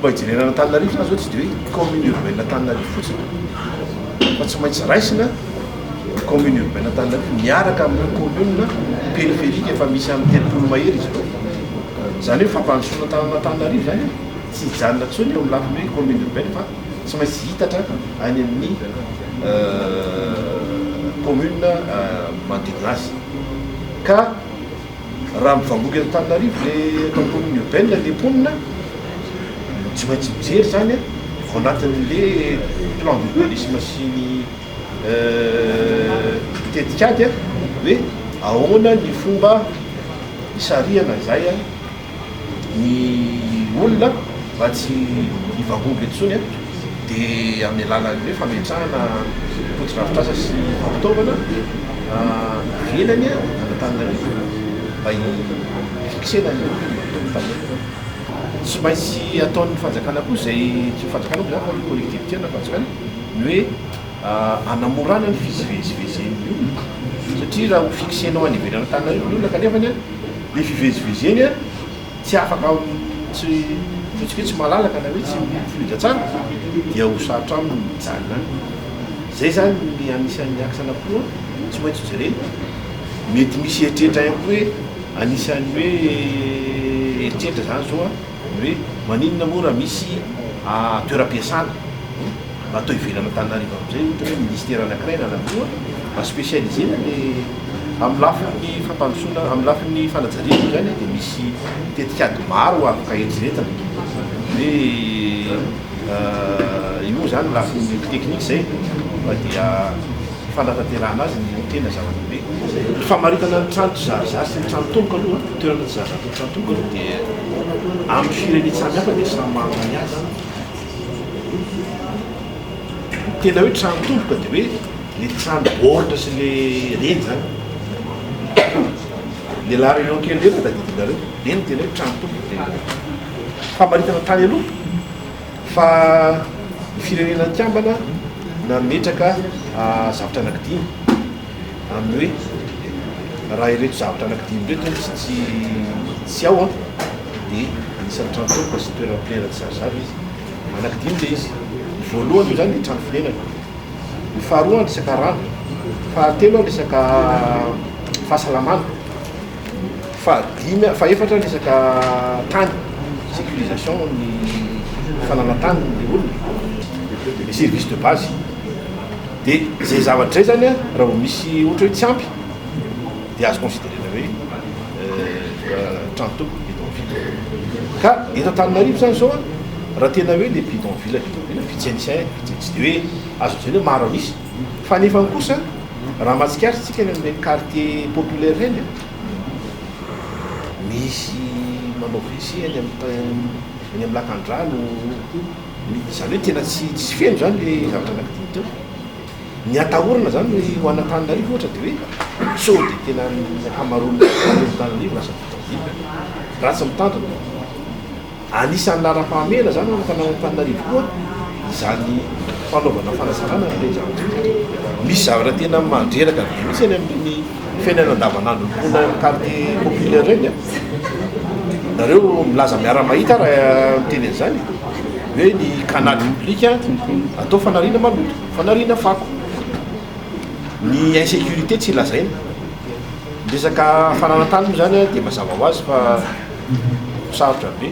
Fomba hijerena an'Antananarivo zany zao tsy dia hoe commune urbaine Antananarivo fotsiny fa tsy maintsy raisina ny commune urbaine Antananarivo miaraka amin'ireo commune périphérique efa misy amin'ny telopolo mahery izy ireo. Izany hoe fampandrosoana tanana Antananarivo zany tsy hijanona intsony eo amin'ny lafiny hoe commune urbaine fa tsy maintsy hitatra any amin'ny euh, commune euh, manodidina azy. Ka. Raha mivangongo eto Antananarivo le eto antonony urbaine le mponina dia tsy maintsy mijery izany a, ao anatin'le plan d'urbanisme sy ny tetikady a, hoe ahoana ny fomba hisarihana izay a. ny olona mba tsy hivaomba intsony dia amin'ny alalan'ny hoe fametrahana fotodrafitrasa sy fampitaovana ivelany an'Antananarivo mba hi-fixer-na ny fotodrafitrasa. Tsy maintsy ataon'ny fanjakana koa izay, tsy ny fanjakana moa izany fa ny collectivités na fanjakana ny hoe hanamorana ny fizivezivezen'ny olona satria raha ho fixenao any ivelany Antananarivo ny olona kanefa ny be fivezivezeny a tsy afaka tsy ataontsika hoe tsy malalaka na hoe tsy mifoletra tsara dia ho sarotra aminy ny mijanona any zay zany ny anisan'ny axe anankiroa tsy maintsy ho jerena mety misy eritreritra ihany koa hoe anisan'ny hoe eritreritra zany zao a ny hoe maninona moa raha misy toeram-piasana mba atao ivelan' Antananarivo amin'izay ohatra hoe ministera anankiray na anankiroa mba spécialisena le amin'ny lafiny fampandrosoana amin'ny lafiny fanajariana moa izany dia misy tetikady maro afaka eritreretina hoe io moa izany lafiny teknika izay fa dia Ny fanatanterahana azy no tena zava-dehibe. Ny famaritana ny trano tsizarizary sy ny trano tomboka aloha, toerana tsizarizary sy ny trano tomboka aloha dia amin'ny firenen samy hafa dia samy manana ny azy. Ny tena hoe trano tomboka dia hoe le trano baoritra sy le reny zany. Le la réunion kely reny no tadidinareo, reny tena hoe trano tomboka. Famaritana tany aloha. Fa ny Firenena Mikambana nametraka zavatra anankidimy amin'ny hoe raha ireto zavatra anankidimy ireto no tsy tsy ao dia anisan'ny trano tolona sy toerana fonenana tsy azo zara izy. Anankidimy ilay izy. Ny voalohany indray ny trano fonenana, ny faharoa ny resaka rano, fahatelo ny resaka fahasalamana. Fahadimy, fahefatra ny resaka tany, sécurisation ny fananan-tany ny olona, les services de base. Dia izay zavatra izay izany an, raha vao misy ohatra hoe tsy ampy dia azo consider-na hoe trano toko, bidonville. Ka eto Antananarivo izany izao an, raha tena hoe ilay bidonville, bidonville, vitsy an'isa, vitsy an'isa, dia hoe azo lazaina hoe maro an'isa. Fa nefany kosa raha mahatsikaritra tsika any amin'ireny quartier populaire ireny a, misy manao WC any amin'ny ta- eny amin'ny lakandrano, izany hoe tena tsy tsy feno izany le zavatra nakidiny teo. Ny atahorana izany ny ho an'Antananarivo ohatra de hoe sao dia tena ny ankamaroan'ny quartier eto Antananarivo lasa vita villa, raha tsy mitandrina. Anisan'ny laharam-pahamehana izany ho an'ny fanaovam-pananarivo koa izany fanaovana fanasarana ny Renidranotsika. Misy zavatra tena mandreraka be mihitsy any amin'ireny fiainana andavanandron'ny mponina any quartier populaire ireny an! Nareo milaza miara-mahita aho raha miteny an'izany e! Hoe ny canal public atao fanariana maloto, fanariana fako. Ny insécurité tsy lazaina. Ny resaka fananan-tany moa izany dia mazava ho azy fa sarotra be.